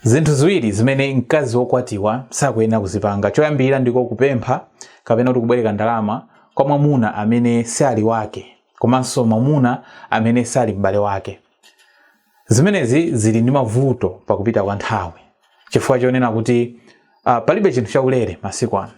Zinthu ziwiri zimene mkazi wokwatiwa sakuyenera kuzipanga. Choyambirira ndiko kupempha kapena kuti kubwereka ndalama kwa mwamuna amene si ali wake komanso mwamuna amene sali m'bale wake. Zimenezi zili ndi mavuto pakupita kwa nthawi chifukwa chonena kuti ah, palibe chinthu chaulere masiku ano.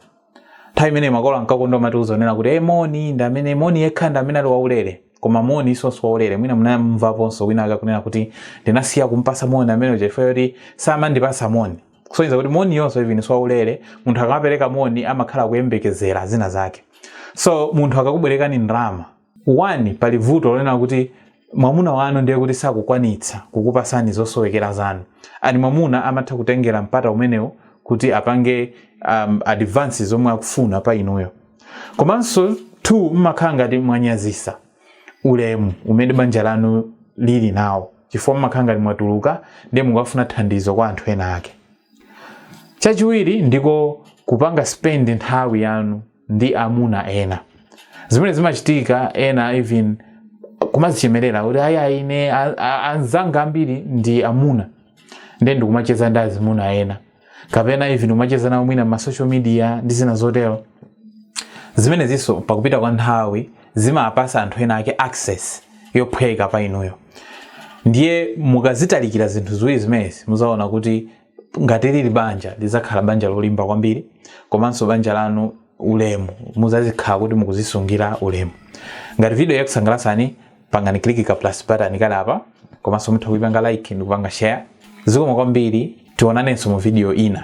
nthawi imene makolo ankakonda kumatiuza kunena kuti e moni ndi amene moni yekha ndi amene ali waulere koma moni siwonso waulere mwina munamvaponso wina wake akunena kuti ndinasiya kumpasa moni ameneyu chifukwa choti samandipasa moni kusonyeza kuti moni yonso even siwaulere munthu akamapereka moni amakhala akuyembekezera zina zake so munthu akakubwerekani ndalama 1 pali vuto lonena kuti mwamuna wanu ndiye kuti sakukwanitsa kukupasani zosowekera zanu and mwamuna amatha kutengera mpata umenewo kuti apange um, advance zomwe akufuna pa inuyo komanso 2 mmakhala ngati mwanyazisa ulemu umene banja lanu lili nawo chifukwa mmakhala ngati mwatuluka ndiye mukukafuna thandizo kwa anthu ena ake chachiwiri ndiko kupanga spend nthawi yanu ndi amuna ena zimene zimachitika ena even kumazichemerera kuti ayi ine a- a- anzanga ambiri ndi amuna ndiye ndikumacheza ndi azimuna ena kapena even kumacheza nawo mwina m'ma social media ndi zina zotero zimenezinso pakupita kwa nthawi zimapasa anthu ena ake access yophweka pa inuyo ndiye mukazitalikira zinthu ziwiri zimenezi muzaona kuti ngati lili banja lidzakhala banja lolimba kwambiri komanso banja lanu ulemu muzazikhala kuti mukuzisungira ulemu ngati video yakusangalasani pangani click ka plus button kali apa komanso mutha kuipanga like ndikupanga share zikomo kwambiri tionanenso mu video ina